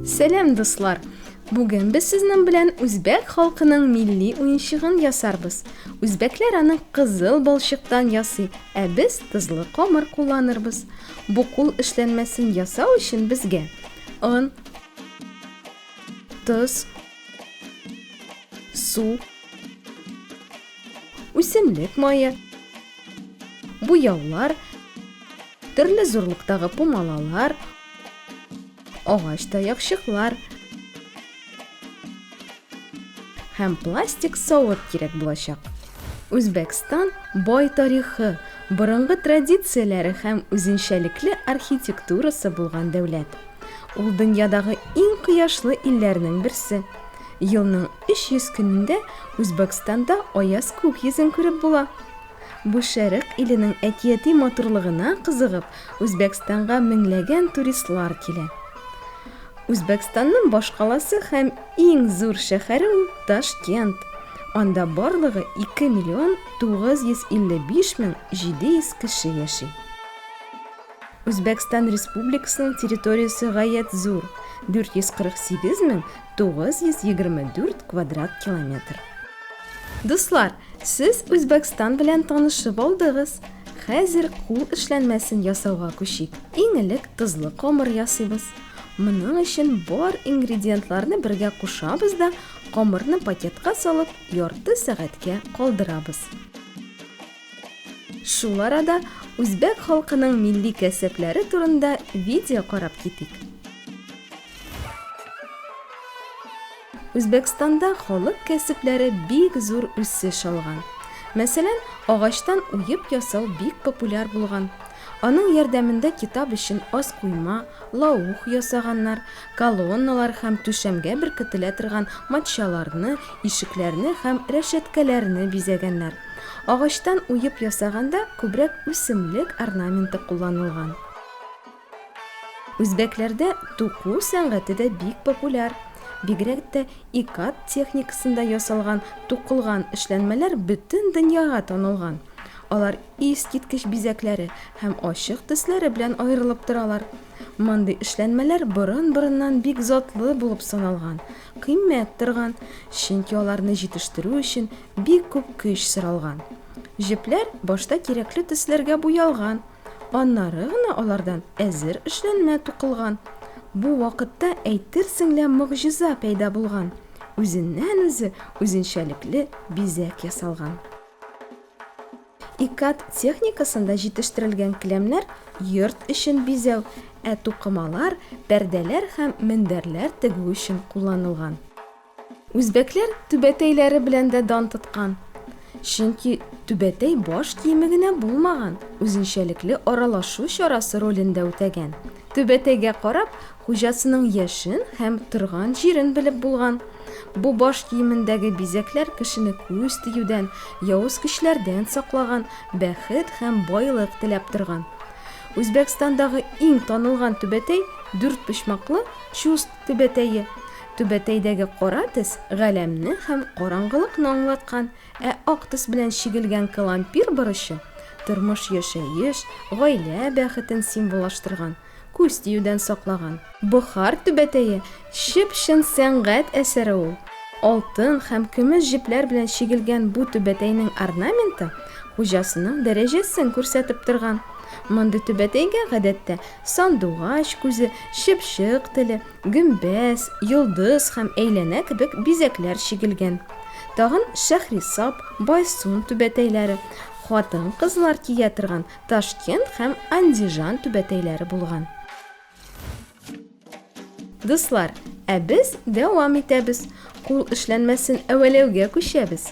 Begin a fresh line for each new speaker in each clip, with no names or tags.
Сәлам, дуслар! Бүген без сезнең белән үзбәк халкының милли уенчыгын ясарбыз. Үзбәкләр аны кызыл балчыктан ясый, ә без тозлы камыр кулланырбыз. Бу кул эшләнмәсен ясау өчен безгә он, тоз, су, үсемлек мае, буяулар, төрле зурлыктагы пумалалар, агач таякчыклар һәм пластик савыт кирәк булачак. Үзбәкстан бай тарихы, борынгы традицияләре һәм үзенчәлекле архитектурасы булган дәүләт. Ул дөньядагы иң кояшлы илләрнең берсе. Елның 300 көнендә Үзбәкстанда аяз күк йөзен күреп була. Бу Шәрык иленең әкияти матурлыгына кызыгып, Үзбәкстанга меңләгән туристлар килә. Үзбәкстанның башкаласы һәм иң зур шәһәре ул Ташкент. Анда барлыгы 2 миллион 955 мең 700 кеше яши. Үзбәкстан Республикасының территориясе гаять зур, 448 мең 924 квадрат километр. Дуслар, сез Үзбәкстан белән танышып алдыгыз. Хәзер кул эшләнмәсен ясауга күчик. Иң элек тозлы камыр ясыйбыз. Моның өчен бар ингредиентларны бергә кушабыз да, камырны пакетка салып, ярты сәгатькә калдырабыз. Шул арада үзбәк халкының милли кәсепләре турында видео карап китик. Үзбәкстанда халык кәсепләре бик зур үсеш алган. Мәсәлән, агачтан уеп ясау бик популяр булган. Аның ярдәмендә китап өчен аз койма, лаух, ясаганнар, колонналар һәм түшәмгә беркетелә торган матчаларны, ишекләрне һәм рәшәткәләрне бизәгәннәр. Агачтан уеп ясаганда күбрәк үсемлек орнаменты кулланылган. Үзбәкләрдә туку сәнгате дә бик популяр. Бигрәк тә икат техникасында ясалган тукылган эшләнмәләр бөтен дөньяга танылган. Алар. искиткеч бизәкләре һәм ачык төсләре белән аерылып торалар. Мондый эшләнмәләр борын-борыннан бик затлы булып саналган, кыйммәт торган, чөнки аларны җитештерү өчен бик күп көч соралган. Җепләр башта кирәкле төсләргә буялган, аннары гына алардан әзер эшләнмә тукылган. Бу вакытта әйтерсең лә могҗиза пәйда булган, үзеннән-үзе үзенчәлекле бизәк ясалган. Икат техникасында җитештерелгән келәмнәр йорт эчен бизәү, ә тукымалар, пәрдәләр һәм мендәрләр тегү өчен кулланылган. Үзбәкләр түбәтәйләре белән дә дан тоткан. Чөнки түбәтәй баш киеме генә булмаган, үзенчәлекле аралашу чарасы ролен дә үтәгән. Түбәтәйгә карап, Хуҗасының яшен һәм торган җирен белеп булган. Бу баш киемендәге бизәкләр кешене күз тиюдән, явыз көчләрдән саклаган, бәхет һәм байлык теләп торган. Үзбәкстандагы иң танылган түбәтәй, дүртпочмаклы Чуст түбәтәе. Түбәтәйдәге кара төс галәмне һәм караңгылыкны аңлаткан, ә ак төс белән чигелгән калампир борычы тормыш-яшәеш, гаилә бәхетен символлаштырган. Күз тиюдән саклаган. Бохар түбәтәе чып-чын сәнгать әсәре ул. Алтын һәм көмеш җепләр белән чигелгән бу түбәтәйнең орнаменты хуҗасының дәрәҗәсен күрсәтеп торган. Мондый түбәтәйгә, гадәттә, сандугач күзе, чыпчык теле, гөмбәз, йолдыз һәм әйләнә кебек бизәкләр чигелгән. Тагын Шәһрисап, Байсун түбәтәйләре, хатын-кызлар кия торган Ташкент һәм Андижан түбәтәйләре булган. Дуслар, ә без дәвам итәбез. Кул эшләнмәсен әвәләүгә күчәбез.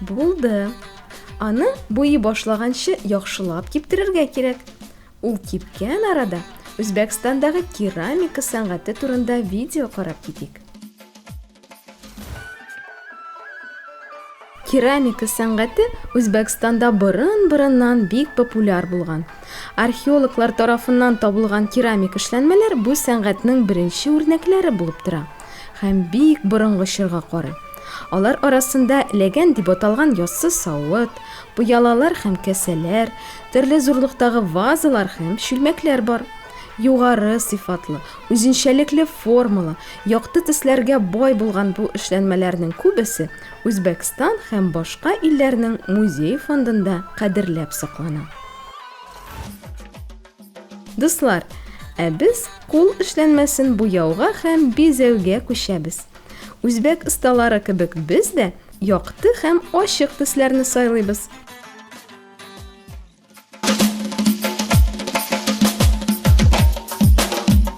Булды. Аны буи башлаганчы яхшылап киптерергә кирәк. Ул кипкән арада Үзбәкстандагы керамика сәнгате турында видео карап китик. Керамика сәнгате Үзбәкстанда борын-борыннан бик популяр булган. Археологлар тарафыннан табылган керамик эшләнмәләр бу сәнгатьнең беренче үрнәкләре булып тора. Һәм бик борынгы чорга карый. Алар арасында ләгән дип аталган яссы савыт, пыялалар һәм кәсәләр, төрле зурлыктагы вазалар һәм чүлмәкләр бар. Югары сыйфатлы, үзенчәлекле формалы, якты төсләргә бай булган бу эшләнмәләрнең күбесе Үзбәкстан һәм башка илләрнең музей фондында кадерләп саклана. Дуслар, ә без кул эшләнмәсен буяуга һәм бизәүгә күчәбез. Үзбәк осталары кебек без дә якты һәм ачык төсләрне сайлыйбыз.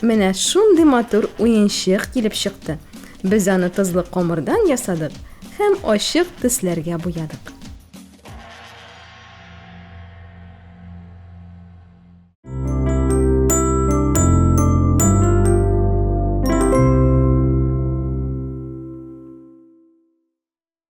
Менә шундый матур уенчык килеп чыкты. Без аны тозлы комырдан ясадык һәм ачык төсләргә буядык.